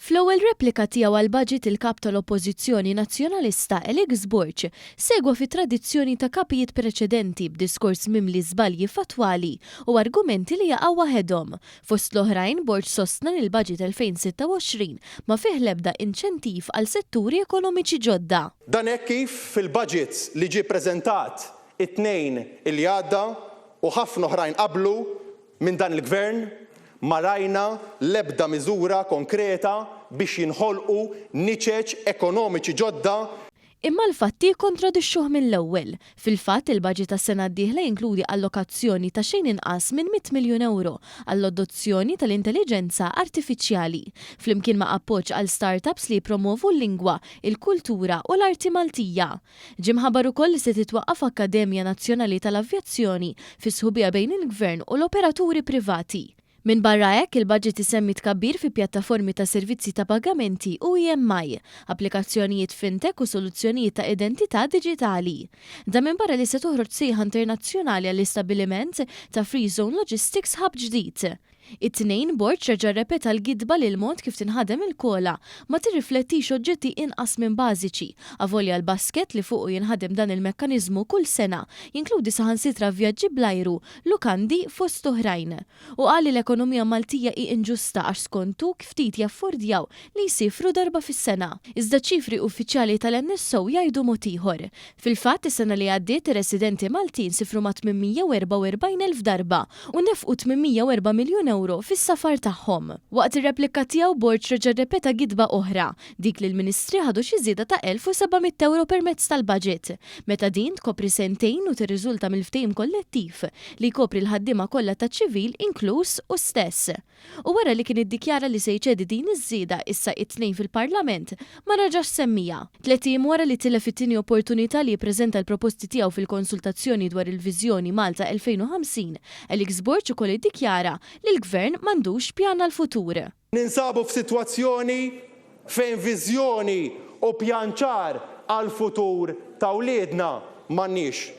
Fl-ewwel replika tiegħu għall-Baġit il-Kap tal-Oppożizzjoni Nazzjonalista Alex Borg segwa fit-tradizzjoni ta' Kapijiet preċedenti b'diskors mimli żbalji fattwali u argumenti li jaqgħu waħedhom. Fost l-oħrajn, Borg sostna li l-Baġit 2026 ma fih l-ebda inċentiv għal setturi ekonomiċi ġodda. Dan hekk kif fil-Baġit li ġie ppreżentat it-Tnejn li għadda u ħafna oħrajn qablu, Minn dan il-Gvern ma rajna l-ebda miżura konkreta biex jinħolqu niċeċ ekonomiċi ġodda. Imma l-fatti jikkontradixxuh mill-ewwel. Fil-fatt, il-baġit għas-sena d-dieħla jinkludi allokazzjoni ta' xejn inqas minn mitt miljun ewro għall-adozzjoni tal-intelliġenza artifiċjali, flimkien ma' appoġġ għal start-ups li jippromwovu l-lingwa, il-kultura u l-arti Maltija. Ġie mħabbar ukoll li se titwaqqaf akkademja nazzjonali tal-avjazzjoni fi sħubija bejn il-Gvern u l-operaturi privati. Minbarra hekk, il-baġit isemmi tkabbir fi pjattaformi ta' servizzi ta' pagamenti u EMI, applikazzjonijiet fintech u soluzzjonijiet ta' identità diġitali. Dan minbarra li se toħroġ sejħa internazzjonali għall-istabbiliment ta' Free Zone Logistics Hub ġdid. It-Tnejn, Borg reġa' rrepeta l-gidba li l-mod kif tinħadem il-kola ma tirriflettix oġġetti inqas minn bażiċi, avolja l-basket li fuqu jinħadem dan il-mekkaniżmu kull sena jinkludi saħansitra vjaġġi bl-ajru, lukandi, fost oħrajn. U qal li l-ekonomija Maltija hi inġusta għax skontu kftit jaffordjaw li jsifru darba fis-sena. Iżda ċ-ċifri uffiċjali tal-NSO jgħidu mod ieħor. Fil-fatt, is-sena li għaddiet ir-residenti Maltin sifru ma' 844 elf darba u nefqu 804 miljun ewro fis-safar tagħhom. Waqt ir-replika tiegħu, Borg reġa' rrepeta gidba oħra, dik li l-Ministri ħadu xi żieda ta' 1,700 ewro permezz tal-Baġit, meta din tkopri sentejn u tirriżulta mill-ftehim kollettiv li jkopri l-ħaddiema kollha taċ-ċivil inkluż hu stess. u wara li kien iddikjara li se jċedi din iż-żieda issa it-Tnejn fil-Parlament, ma raġax semmiha. Tliet ijiem wara li tilef it-tieni opportunità li jippreżenta l-proposti tiegħu fil-konsultazzjoni dwar il-viżjoni Malta 2050, Alex Borg ukoll iddikjara li l-Gvern m'għandux pjan għall-futur. Ninsabu f'sitwazzjoni fejn viżjoni u pjan ċar għall-futur ta' wliedna m'għandniex.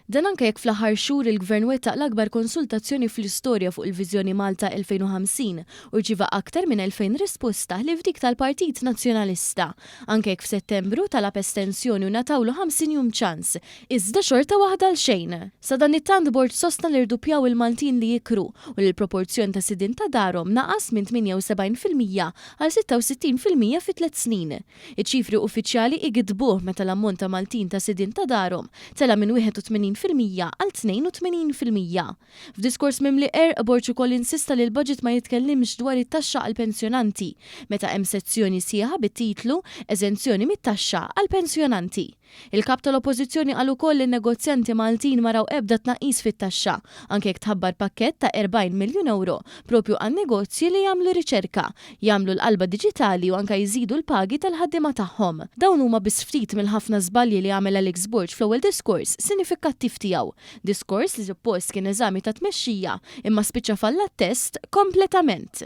Dan anke jekk fl-aħħar xhur il-Gvern wettaq l-akbar konsultazzjoni fl-istorja fuq il-Viżjoni Malta 2050 u rċieva aktar minn 2,000 risposta ħlief dik tal-Partit Nazzjonalista, anke jekk f'Settembru talab estensjoni u ngħatawlu 50 jum ċans, iżda xorta waħda għal xejn. Sadanittant Borg sostna li rduppjaw il-Maltin li jikru u li l-proporzjon ta' sidien ta' darhom naqas minn 78 fil-mija għal 66 fil-mija fi tliet snin. Iċ-ċifri uffiċjali jgiddbuh meta l-ammont ta' Maltin ta' sidien ta' darhom tela' minn 81 fil-mija għal 82 fil-mija. F'diskors mimli qerq, Borg ukoll insista li l-budget ma jitkellimx dwar it-taxxa għall-pensjonanti, meta hemm sezzjoni sħiħa bit-titlu Eżenzjoni mit-taxxa għall-pensjonanti. Il-Kap tal-Oppożizzjoni qal ukoll li n-negozjanti Maltin ma raw ebda tnaqqis fit-taxxa, anke jekk tħabbar pakkett ta' 40 miljun ewro proprju għan-negozji li jagħmlu riċerka, jagħmlu l-qalba diġitali u anke jżidu l-pagi tal-ħaddiema tagħhom. Dawn huma biss ftit mill-ħafna żbalji li għamel Alex Borg fl-ewwel diskors sinifikkattiv tiegħu, diskors li suppost kien eżami ta' tmexxija imma spiċċa falla t-test kompletament.